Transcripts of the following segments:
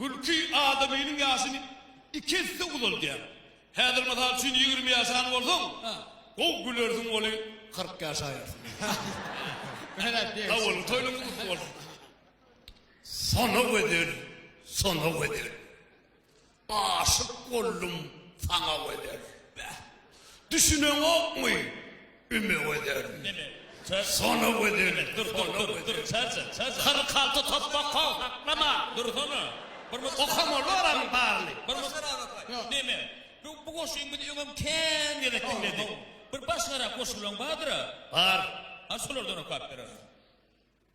Gülki adamynyň ýaşyny iki esse uzaldýar. Häzir mysal üçin ýigrimi ýaşan bolsaň, gowy gülersiň weli kyrk ýaşaýarsyň. Awalky toýlaryň gutly bolsun. Sona weder, sona weder. Aşyk boldum saňa weder. Bäh. Düşüneňokmy? Üme gözelmi? Sona gözelmi? Dur, dur, dur, dur, çaja, çaja. Kyrk alty topbak kow, haklama! Dursana! Bir mys Okam ol oramyň baryny. Bir mys Neme? Bu, bu goşgyň biz öňem kän gezek diňledik. Bir başgarak goşgulaň bardyr-a? Bar. Ha şolardan okap berersiň.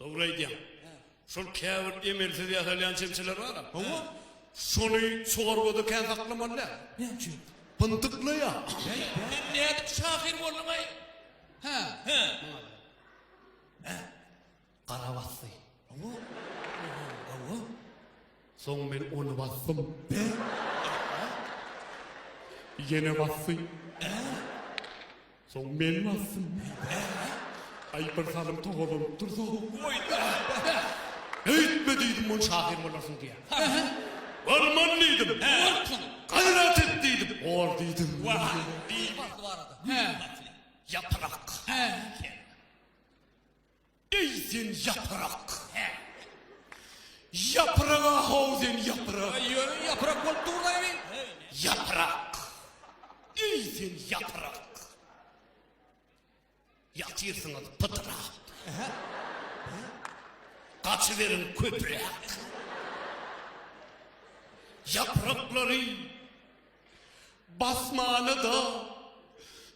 Dogry aýdýaň. Şol käbir emelsiz ýasalýan çemçeler bar-a. Hawa. Şony çorbada kän saklamaly däl. Näme üçin? Pyndyklaýar. Sen nädip şahyr bolduň-aý? Hä? Hä? Hä? Gara basdy. Hawa. Hawa. Soň men ony basdym. Ber! Ýene basdy. Soň men basdym. Aý bir salym togalanyp dursa. Oý! Öýtme diýdim ony şahyr bolarsyň diýä. Barman diýdim. Borsuň. Gaýrat et diýdim. Bor diýdim. Wah! Diýip. Bardy barada. Gül batly. Ýapyrak. Hä. Eý sen ýaprak! Hä. Ýaprak-a-how sen ýaprak! Eý özüň ýaprak bolup durlaýby. Ýaprak! Eý sen ýaprak! Ýatyrsyňyz pydyrap. Hä. Gaçyberiň köpräk. Ýapraklary basmana-da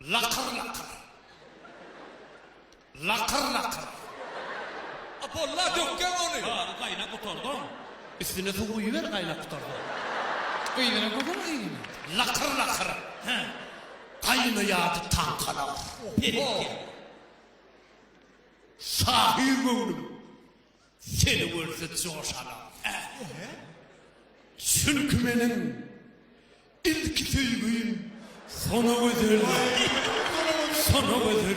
Lakyr-lakyr. Lakyr-lakyr. A bolla, dökgäň ony! Bary gaýnap gutardan. Üstüne suw guýuber gaýnap gutardan. Gyzyna gözel gyzyna. Lakyr-lakyr. Hä. Gaýnaýardy taňkalaryň. Oho! Şahyr göwnüm. Seni görse joşalar ähli-hä. Çünki meniň ilki söýgim sona gözel. Sona gözel.